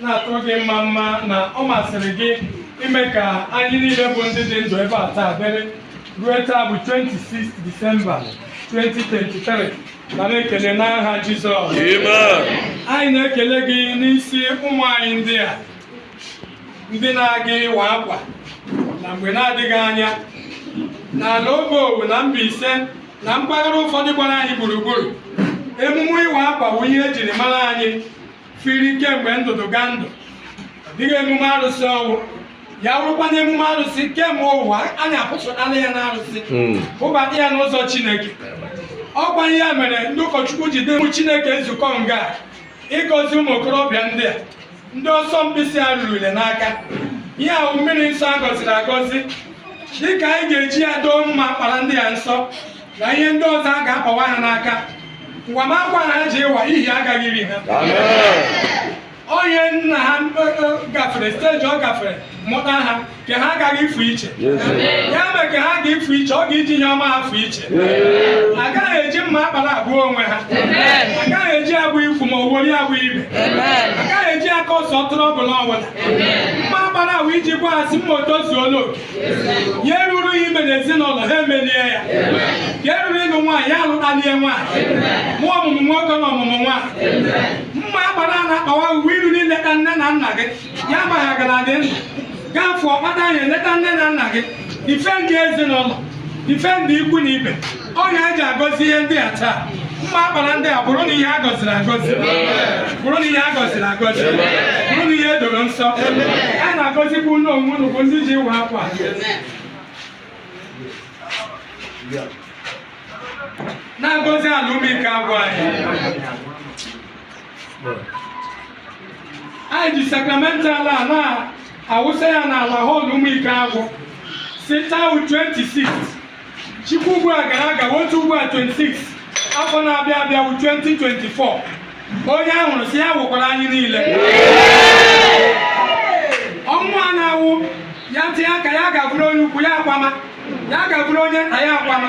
na-atụrụ gị mma mma na ọ masịrị gị ime ka anyị niile bụ ndị dị ndụ ebe a taa dịrị ruo taa bụ 26 Disemba 2023 nara ekele n'aha Jizọs anyị na-ekele gị n'isi ụmụ anyị ndị a ndị na-aga ịwa akwa na mgbe na-adịghị anya n'ala Obowo na Mbaise na mpaghara ụfọdụ gbara anyị gburugburu emume ịwa akwa bụ ihe ejiri mara anyị firi kemgbe ndụdụgandụ ọ dịghị emume arụsị ọ wụ ya wụrụkwa na emume arụsị kemgbe ụwa anyị apụsụtala ya n'arụsị hmm. bubata ya n'ụzọ chineke ọkwa ihe mere ndị ụkọchukwu jide ụmụ chineke ezukọ nga ịgọzi ụmụ okorobịa ndị a ndị ọsọ mkpisi a rurule n'aka ihe a wụ mmiri nsọ a gọziri agọzi dịka anyị ga-eji ya doo mma akpara ndị a nsọ na ihe ndị ọzọ a ga-akpawa ha n'aka ngwa ma akwa na ha ji ịwa ihe agaghị iri ha onye nna ha e, e, gafere steji ọ gafere mụta ha ka ha agaghị ịfụ iche ya mere ka ha ga ịfụ iche ọ ga-iji ihe ọma ha fụ iche agaghị eji mma akpara egbu onwe ha agaghị eji egbu ikwu ma ọ wụrụ egbu ibe agaghị eji akọsụ trọbụl ọbụla mma akpara a bụ iji gwa ha sị ma o tozuola oke ihe ruru ya ime n'ezinụlọ ha emelie ya ka eruru ịlụ nwaanyị ya alụtalie nwaanyị mụọ ọmụmụ nwoke na ọmụmụ nwaanyị mma akpara a na-akpawa uwe iru n'ileta nne na nna gị ya amaghị agara dị ndụ gaa fụọ kpata ihe eleta nne na nna gị difendị ezinụlọ difendị ikwu na ibe ọ ya anyị ji agọzi ihe ndị a taa mma akpara ndị a bụrụ na ihe a gọziri agọzi bụrụ na ihe a gọziri agọzi bụrụ na ihe edoro nsọ a na-agọzikwa unu onwe unu bụ ndị ji ịwa akwa na-agọzi ala ụmụikeagwụ anyị anyị ji sakramental a na-awụsa ya n'ala họl ụmụikeagwụ si taa 26 chikwa ugbu a gara aga otu ugbu a 26 afọ na-abịa abịa bụ 2024 onye a hụrụ sị ya wụkwara anyị niile ọnwụ a na-awụ ya tinye aka ya ga-abụrụ onye ukwu ya akwama ya ga-abụrụ onye nta ya akwama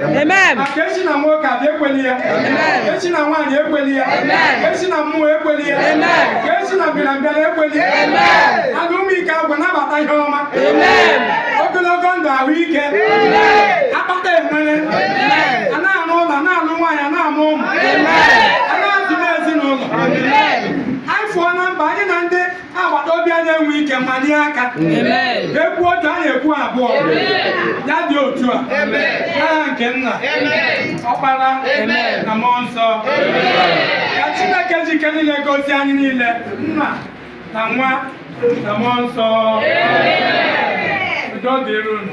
e si na nwoke abịa ekwela ya e si na nwaanyị ekwela ya e si na mmụọ ekwela ya e si na mbịarambịara ekwela ya ala ụmụikeagwụ nabata ihe ọma ogologo ndụ ahụ ike akpata enwere a na-arụ ụlọ na-alụ nwaanyị na-amụ ụmụ agbata obi anyị enwe ike manye aka ekwu otu anyị ekwu abụọ ya dị otu a n'aha nke nna ọkpara na mmụọ nsọ ka chineke ji ike niile gọzie anyị niile nna na nwa na mmụọ nsọ udo dịrị unu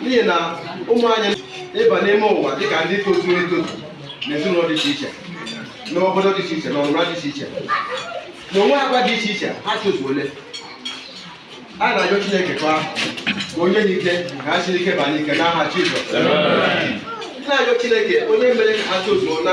n'ihi na ụmụ anyị ịba n'ime ụwa dịka ndị tozuru etozu n'ezinụlọ dị iche iche n'obodo dị iche iche n'ọnụmara dị iche iche na-enwe agwa dị iche iche ha tozuole a na-ajọ chineke kwa ka o nye ha ike ka ha sie ike ba n'ike n'aha jizọs na-ajọ chineke onye mere ka ha tozuo na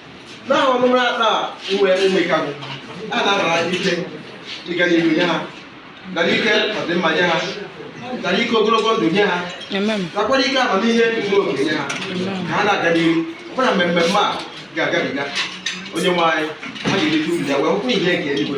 na ọnụrụ ata uwe mmekagụ a na-anara ike ịga n'ihu nye ha gara ike ọdịmma nye ha gara ike ogologo ndụ nye ha nakwara ike amamihe zuru oke nye ha ka ha na-aga n'ihu ọbụna mmemme a ga-agabiga onye nwe anyị ha ga-erite uru ya wee hụkwa ihe nke eluigwe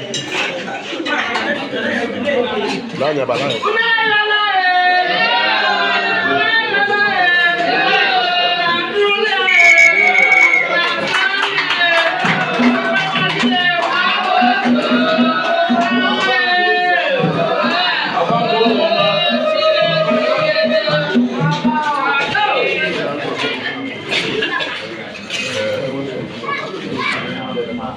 Lanya ba lanya.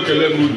ekele m unu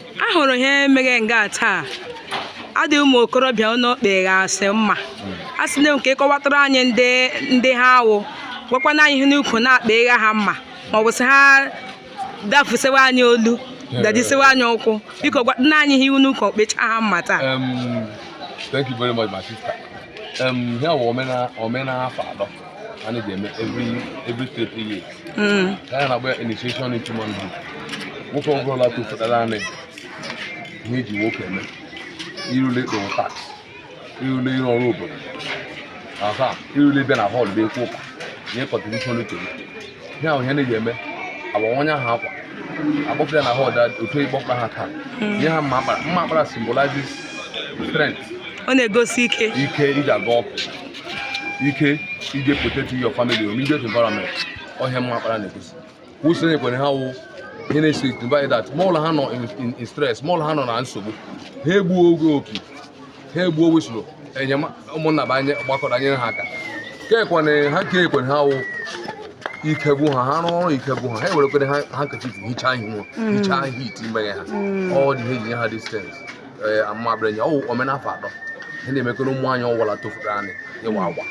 a hụrụ ihe mere nga taa adị ụmụ okorobịa unu kpeghasị mma a sị na nke ịkọwatara anyị ndị ha wụ gwakwana anyị ihe n'ukwu na-akpegha ha mma ma ọ bụ sị ha dafusewa anyị olu dabisewa anyị ụkwụ biko gwakwana anyị ihe iwu n'ukwu okpecha ha mma taa Um, thank you very much, my sister. Um, here we are, Omena Fado, and it's every every three years. Mm. ka anyị na-agba ya initiation into manhood nwoke ọ bụla tofutara anị ihe e ji nwoke eme irule ịkwụrụ tax irule ịrụ ọrụ obodo aha irule bịa na họl bịa ekwu ụka nye kọntribushọn uche gị ihe ahụ ihe na-eji eme agbawanye ha akwa akpọpụta ha na họl otu ịkpọpụta ha taa nye ha mma akpara mma akpara symbolizes strength Ọ na-egosi ike. ike e ji aga ọgụ ike iji protect your family or immediate environment ọ ihe mma akpara na-egosi wisụl e nyekwere ha wụ ihe na-esignify that ma ọ wụrụ ha nọ in stress ma ọ wụrụ ha nọ na nsogbu ha egbuo opi ha egbuo wisụl enyema ụmụnna bụ anya agbakọrọ nyere ha aka kekwana ha nke ekwere ha wụ ike gwụ ha ha rụọ ọrụ ike gwụ ha ha ewerekwere handkerchief hichaa ihu hichaa ihu heat megha ha ọ dị ihe e ji nye ha these things ee amabrenye ọwụ omenafọ atọ ihe na-emekere ụmụ anyị ọwụla tofuru anyị ịwa akwa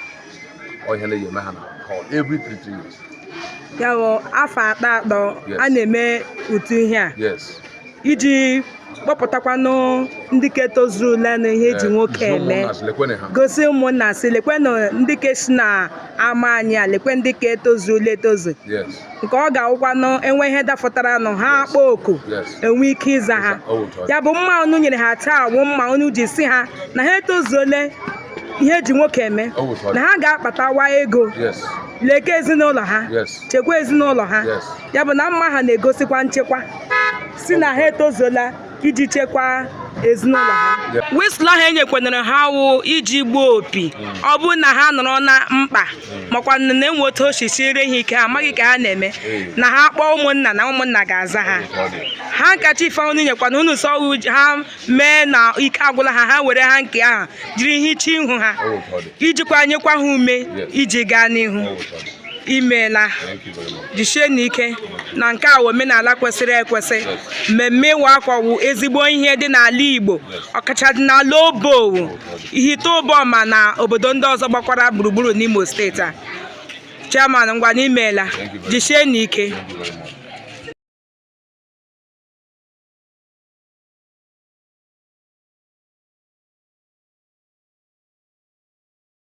ọ ihe na-eji eme ha na hall every three three years ya bụ afọ atọ atọ Yes. a na-eme otu ihe a yes iji kpọpụtakwanụ ndị ke tozurule na ihe eji nwoke eme gosi ụmụnna si lekwenụ ndị ke si na ama anyị a lekwe ndị ke tozurule etozu yes nke ọ ga-awụkwanụ enwe ihe dafụtaranụ ha akpọọ oku enwe ike ịza ha ya bụ mma unu nyere ha taa wụ mma unu ji si ha na ha etozuole ihe eji nwoke eme na ha ga-akpatawa ego leke ezinụlọ ha chekwa ezinụlọ ha ya bụ na mma ha na-egosikwa nchekwa si na ha etozuola iji chekwaa ezinụlọ ha whistle ahụ enyekwanere ha wụ iji gbuo opi ọ bụrụ na ha nọrọ na mkpa makwa na enwe otu o si siere ha ike ha amaghị ka ha na-eme na ha kpọọ ụmụnna na ụmụnna ga-aza ha handkerchief unu nyekwana unu so ọ wụ ha mee na ike agwụla ha ha were hanky ahụ jiri hichaa ihu ha ijikwa nyekwa ha ume iji gaa n'ihu imeela jisie n'ike na nke a wụ omenala kwesịrị ekwesị mmemme ịwa akwa wụ ezigbo ihe dị n'ala Igbo ọkacha dị n'ala Obowo Ihitte Ụbọma na obodo ndị ọzọ gbakwara gburugburu n'Imo steeti a chairman ngwanụ imeela jisie n'ike